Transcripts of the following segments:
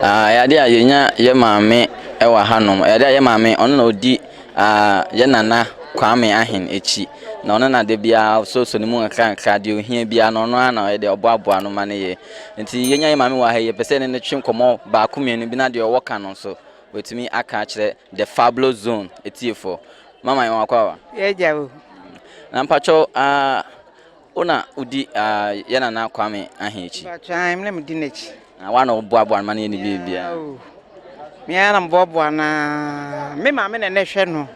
Aa ɛyɛ adeɛ a yɛnya yɛ maame wɔ hanom ɛyɛ adeɛ a yɛ maame ɔno na ɔdi aa yɛ nana Kwame Ahen akyi na ɔno na da biara ɔsosɔ ne mu nkra nkra deɛ ohia biara no ɔno ara na ɔyɛ deɛ ɔboaboa no ma no yɛ nti yɛnya yɛ maame wɔ ha yi yɛpɛ sɛ ne ne twe nkɔmmɔ baako mmienu bi na deɛ ɔwɔ ka no nso wɔtumi aka akyerɛ the fablo zone etiefoɔ mama yɛn wakɔ awa yɛgya o na mpakyɛw aa. Wo na wodi yɛn Nana Kwame Ahe akyi? Mpakyɛ ae, me na medi n'akyi. Na wo ara na woboaboa no ma no yɛ ne biribiara? Meaa o, me ara na meboaboa no ara. Me maame na na ɛhwɛ no.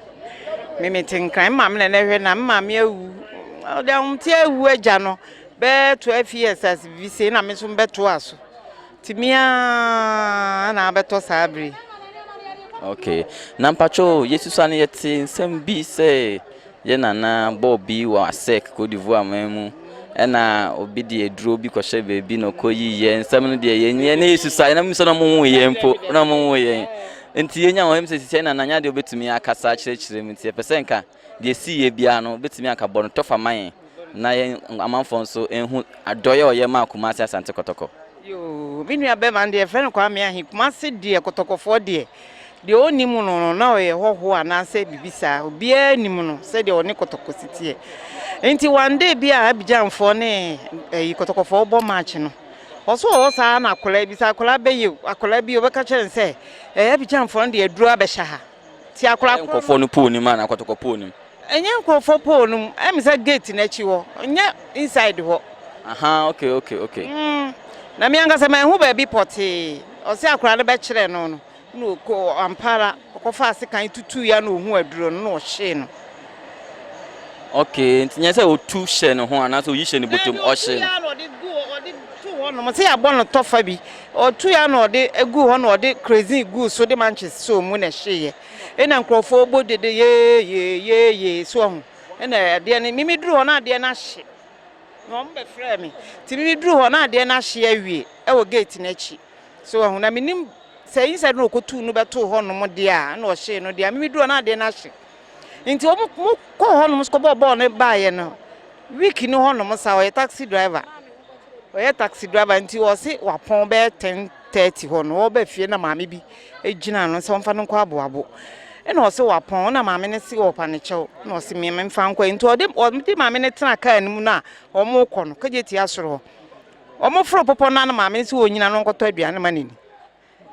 Me mete Nkran, me maame na na ɛhwɛ no a, me maame awu. Ɔde ahomteɛ awu agya no bɛyɛ twelve years as biribi sei, ɛnna me nso mebɛtoaa so. Tumi ara na abɛtɔ saa bere yi. Ok, na mpatwo yesu sa no yɛte nsɛm bi sɛ yɛ nana bɔɔ bi wɔ asɛk Cote d'Ivoire man mu ɛna obi de aduro bi kɔhyɛ baabi na ɔkɔ yi yɛ nsɛm no deɛ yɛn yɛn ne yesu sa yɛn mu sɛ na ɔmo nwu yɛn mpo na ɔmo nwu yɛn nti yɛnya wɔn sɛ sisi ɛna nanya deɛ obetumi akasa akyerɛkyerɛ mu nti yɛpɛ sɛ nka Deɛ ɛsii yɛ biara no, wobɛtumi anka bɔ no tɔfa ma yɛn na yɛn amanfoɔ nso nhu adɔeɛ a ɔyɛ maa Kumasi Asante Kɔtɔkɔ. Yoo me nua bɛma deɛ yɛfrɛ no Kwame Ahi Kumasi deɛ kɔtɔkɔfoɔ deɛ deɛ ɔnni mu no no na ɔyɛ hɔhoɔ anaasɛ bibi saa obiara nni mu no sɛdeɛ ɔne kɔtɔkɔ si teɛ nti one day bi a Abidjanfoɔ ne ɛyi kɔtɔkɔfoɔ bɔ match no ɔso ɔwɔ saa na akwadaa bi sɛ akwadaa bɛyɛ akwadaa bi ɔbɛka kyerɛ no sɛ ɛɛ Abidjanfoɔ no deɛ aduro abɛhyɛ ha Ti akora koro no. Ɛyɛ nkorɔfoɔ no pole no mu anaa kɔtɔkɔ pole no mu? Ɛnyɛ nkorɔfoɔ pole no mu. Ɛyɛ me sɛ gate no akyi hɔ. Ɛnyɛ inside hɔ. Ahaa okay okay okay. Mm na me ankasa manhu baabi pɔtee. Ɔse akora no bɛkyerɛɛ no no na ɔkɔ ampa ara ɔkɔ faa sekan tutuui a na ɔhu aduro no na ɔhyee no. Okay nti nyɛ sɛ ɔtu hyɛ ne ho anaasɛ ɔyi hyɛ ne bɔtɔ mu ɔhyee no. Bɛɛbi ɔtuui ara na ɔde gu ɔde to hɔ nom. Ɔse yɛabɔ no tɔfa bi. Ɔtoe ara na ɔde guu hɔ na ɔde kerosene guu so de manches sɔɔ mu na ɛhyeeɛ. Ɛnna nkurɔfoɔ bɔ dede yeeyee, yeeyee, so wahu. Ɛnna adeɛ no, Mimi duruu hɔ na adeɛ no ahye, na wɔbɛfrɛɛ me. Nti Mimi duruu hɔ na adeɛ no ahye awie wɔ gate no akyi, so wahu. Na mennim sɛ inside na ɔkɔtuu no bɛtoo hɔnom deɛ a, ɛnna ɔhyee no deɛ a, Mimi duruu hɔ na adeɛ no ahye. Ntsi wɔn mo kɔɔ hɔ nom so kɔ bɔɔ bɔɔl no baa yɛ no week no hɔ nom saa ɔyɛ taxi driver ɔyɛ taxi driver ntsi ɔse wapɔn bɛyɛ ten thirty hɔ no ɔba fie na maame bi egyina no sɛ ɔnfa no nkɔ aboabo ɛna ɔse wapɔn ɔna maame no se ɔpa ne kyɛw na ɔse mmea mfa nkɔ nti ɔde ɔde maame no tena kaa no mu no a wɔn kɔ no kagye tia soro hɔ wɔn foro popɔ no na maame no se onyina no nkɔtɔ aduane ma n'ani.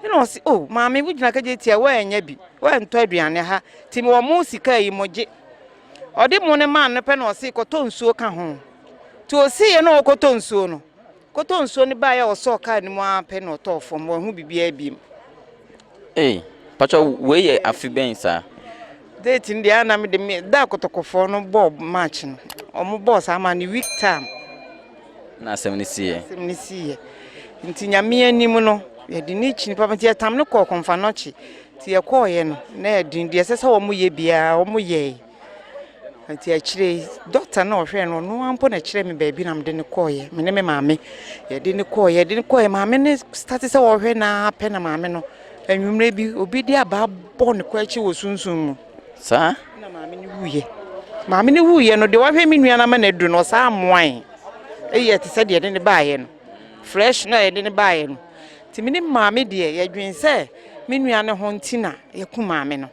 Ɛna ɔsi, o oh, maame wo gyina kagye tia wɔanya bi, wɔantɔ aduane ha, ti mewɔ mo sika yi mo gye. Ɔde mo no maa no pɛ na ɔsi kɔtɔ nsuo ka ho. Ti ɔsi yɛ na ɔkɔtɔ nsuo no. Kɔtɔ nsuo no baeɛ a ɔsɔɔ kaa no mu ara pɛ na ɔtɔɔ fam, wɔahu biribiara bi mu. Ee, patwa wei yɛ afe bɛn saa? Date no deɛ ana me de me da akɔtɔkɔfoɔ no bɔɔ match no. Wɔn bɔɔ saa ma no week time. na asɛm no siiɛ. Asɛm no siiɛ. Nti Nyame anim no, yɛde no kyini papa. Nti yɛtam no kɔɔ Kɔmfanɔkye. Nti yɛkɔɔeɛ no, na ɛyɛ den. Deɛ ɛsɛ sɛ wɔyɛ biara, wɔyɛe. Nti akyire yi, dɔkta no a ɔhwɛɛ no, ɔno ara mpo na ɛkyerɛɛ me baabi na mede no kɔɔeɛ. Me ne me maame, yɛde no kɔɔeɛ, yɛde no kɔɔeɛ. Maame no starte sɛ ɔrehwɛ no ara pɛ na maame no, anwummerɛ bi, obi de abaa bɔɔ ne kɔ akyi wɔ sunsum mu. Saa na maame no wuiɛ. Maame no wuiɛ no, deɛ wahwɛ me nua no ama no aduru no, ɔsaa mmoae. Ɛyɛ te sɛ deɛ ɛde no baeɛ no, fresh na ɛde no baeɛ no. Nti me ne maame deɛ, yɛdwen sɛ me nua no ho nti na yɛaku maame no.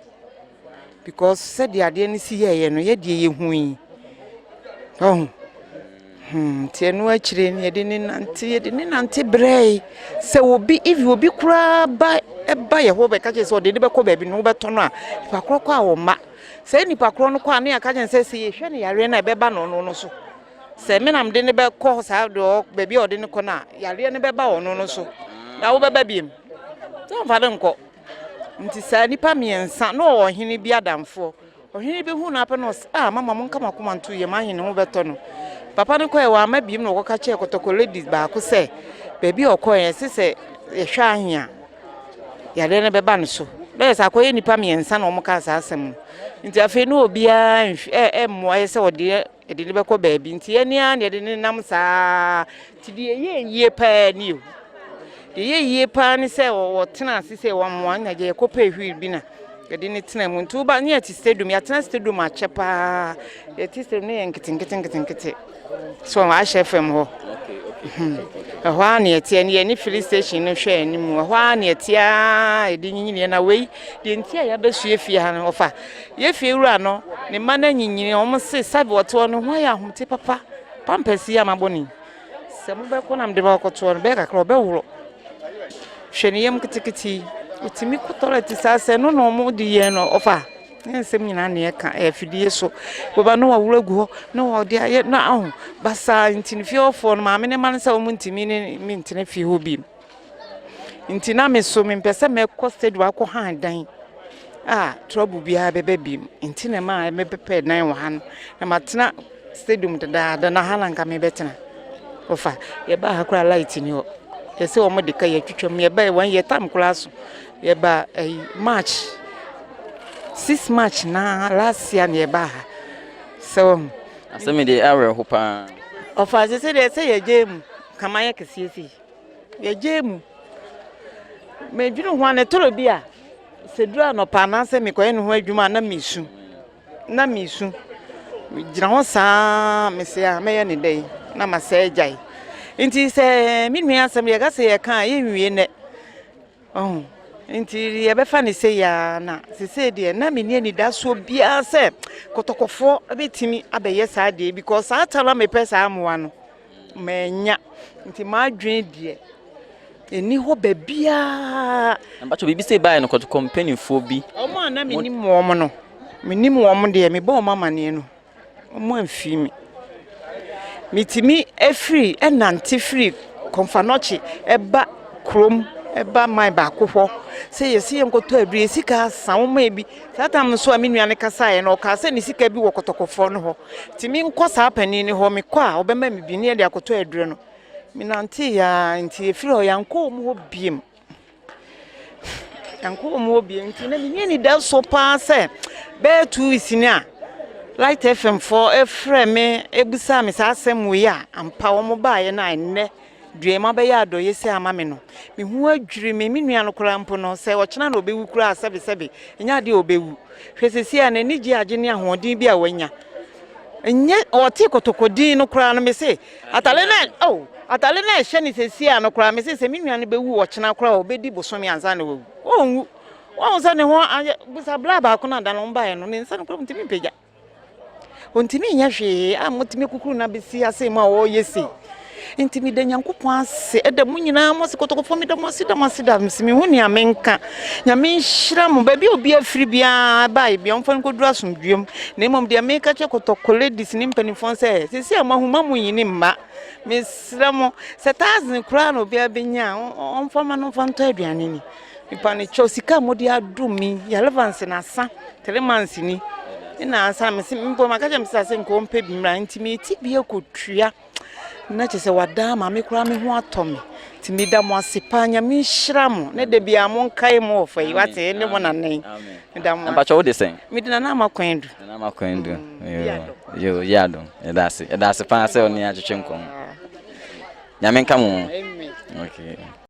Because sɛdeɛ adeɛ no si yɛeɛ no, yɛdeɛ yɛhui. Ɔhu. Hmm, nti ɛno akyire no yɛde ne nante yɛde ne nante brɛe sɛ obi even obi koraa ba ɛba yɛ hɔ bɛka kyerɛ sɛ ɔde ne bɛkɔ baabi na wobɛtɔ no a nipa korɔ kɔ a wɔma sɛ nipa korɔ no kɔ a ne yɛaka kyerɛ sɛ sɛ yɛhwɛ no yareɛ no a ɛbɛba no ɔno no so sɛ me nam de ne bɛkɔ saa deɛ baabi a ɔde ne kɔ no a yareɛ no bɛba ɔno no so na wobɛba biem sɛ ɔmfa no nkɔ nti saa nipa mmiɛnsa na ɔwɔ ɔhene bi adamfoɔ Ɔhene bɛhunu no apɛ na ɔse, Ah, mama monka mo akoma nto yam ahe ne ho bɛtɔ no? Papa no kɔɛ, wamma biem na ɔkɔka kyerɛɛ kɔtɔkɔ lady baako sɛ baabi a ɔkɔɛ no ɛse sɛ yɛhwɛ ahe a yadeɛ no bɛba no so. Na yɛsɛ akɔyɛ nnipa mmiɛnsa na wɔkaa saa asɛm no. Nti afei na obiara ɛmmoa yɛ sɛ ɔde Yɛde no bɛkɔ baabi nti yɛn ara na yɛde no nam saa nti deɛ ɛyɛ yie paa ni o deɛ ɛyɛ yie paa ne sɛ wɔtena ase sɛ wɔamoa na deɛ yɛkɔpɛ hwiri bi na yɛde no tena mu nti woba ne yɛte stadium yɛatena stadium akyɛ paa yɛte stadium ne yɛ nketenkete nketenkete so ahyɛ fam hɔ hmm. ɛhɔ a ne yɛteɛ ne yɛne filling station no hwɛ anim ɛhɔ a ne yɛteɛ a yɛde nyinyiniɛ na wei deɛ nti a yɛabɛsua fie ha no ɔfa Yɛ fiewura no, ne mma no anyinyini, wɔn se, Sabe wɔtoɔ no, ho ayɛ ahomte papa, pampers yi ama bɔne yi. Sɛ mobɛkɔ na mede bɛkɔtoɔ no, bɛyɛ kakra ɔbɛworo. Hwɛ ne yam ketekete yi, ɛtumi kɔ tɔlɛte saa sɛ ɛno na wɔn de yɛn no ɔfa. Ne nsɛm nyinaa na ɛka, ɛyɛ afidie so. Wɔba na wɔworo agu hɔ, na wɔde ayɛ na aho basaa nti no fie hɔfoɔ no, maame no mma no sɛ wɔn ntumi ne ne ntena fie hɔ bio. Nti na me so mempɛ sɛ mɛkɔ stadium akɔ han dan a trouble biara bɛba bi mu. Nti na ɛma mebɛpɛ dan wɔ ha no. Na matena stadium dedaada na ha na nka mebɛtena. Ɔfa, yɛbaa ha koraa light ni hɔ. Yɛsɛ wɔn de ka yɛtwitwa mu. Yɛbaa wɔn yɛ tam koraa so. Yɛbaa ɛyi eh, March. Six March na last year na yɛbaa ha. Sɛ wɔn. Asɛm de awerɛho paa. Ɔfa sɛ sɛ deɛ sɛ yɛgye mu kama yɛ kɛseɛ sei. Yɛgyaa mu. Medwene ho a, na ɛtɔrɔ bi a, sɛ duru anɔpa anaasɛ mekɔyɛ ne ho adwuma a, na mesu. Na mesu. Megyina hɔ saa mese a mɛyɛ ne dɛn na masɛ agyae. Nti sɛ me nua asɛm yɛka sɛ yɛka a yɛnwie nnɛ. Ɔho. Nti yɛbɛfa ne sɛ yaa na sesei deɛ na menni anidasoɔ biara sɛ kɔtɔkɔfoɔ bɛtumi abɛyɛ saa deɛ because saa ta no a mepɛ saa mmoa no. Mannya, nti m'adwene deɛ ɛnni hɔ baabiara. Na mpakyɛw biribi sei baeɛ no kɔ kɔmpanifoɔ bi. Wɔn a na menim wɔn no, menim wɔn deɛ mebɔɔ wɔn amaneɛ no, wɔn amfiri me. Metumi firi nante firi Komfanochi ba kurom ba man baako hɔ sɛ yɛse yɛnkɔtɔ aduro, yɛsika asa, wɔn a ebi. Saa tam no so a me nua no kasaeɛ no, ɔkaa sɛ ne sika bi wɔ kɔtɔkɔfoɔ no hɔ, nti menkɔ saa panin no hɔ, mekɔ a ɔbɛma me bi ne yɛde akɔtɔ aduro no. Menanteeɛ ara nti ɛfiri hɔ yɛankɔ wɔn hɔ biom. Yɛankɔ wɔn hɔ biom nti na menni anidaso paa sɛ bɛyɛ two weeks ni a Light FM foɔ frɛ me bisaa me saa asɛm wei a ampa wɔn baeɛ no a ɛnnɛ Duam abɛyɛ adɔeɛ sei ama me no, me ho adwiri me, me nua no koraa mpo no, sɛ ɔkyena na ɔbɛwu koraa a, sɛbesɛbe, ɛnyɛ adeɛ a ɔbɛwu. Hwɛ seesei a n'ani gye agye ne ahoɔden bi a wanya. Ɛnyɛ, ɔte kotoko dinn no koraa no, mese, atare no a, oh, atare no a ɛhyɛ no seesei a no koraa, mese sɛ me nua no bɛwu ɔkyena koraa a, ɔbɛdi bosome ansa na wawu. Ɔnwu. Woahu sɛ ne ho ayɛ, bisa bra baako no a da no wɔn baeɛ no, ne nsa no koraa ɔntumi mpagya. Ontumi nyɛ hwee a motumi kukuru no abɛsi ha sei mu a ɔreyɛ sei. Nti meda Nyankopɔn ase ɛda mu nyinaa mo ase kɔtɔkɔfoɔ meda mo ase da mo ase da mo ase mehu nea menka. Nyame nhyira mo baabi a obi afiri biara baeɛ bia ɔmfa no nkɔduru asomdwoeɛ mu na mmom deɛ meka kyerɛ kɔtɔkɔ ladies ne mpanimfoɔ sɛ sɛsi a moahu ma mo nyini mma mesrɛ mo sɛ thousand koraa na obiara bɛnya a ɔmfa ma no mfa ntɔ aduane ni. Mepanekyɛw sika a mode adom me yi Yalevance na sa three months ni na ansa me se mpo maka kyɛ me sɛ sɛ nka ɔmpɛ bi mmra nti meti bi akotua na kyɛ sɛ wadaa ma me koraa me ho atɔ me nti meda mo ase paa nyame nhyira mo ne da biara mo nkae mo wɔ fa yi wate ɛne mo nanan meda mo mpakyɛ wode sɛn mede nana ama kwan du nana ama kwan du mm, yo yɛ adom ɛda ase ɛda ase paa sɛ ɔne atwetwe nkɔm nyame nka mo okay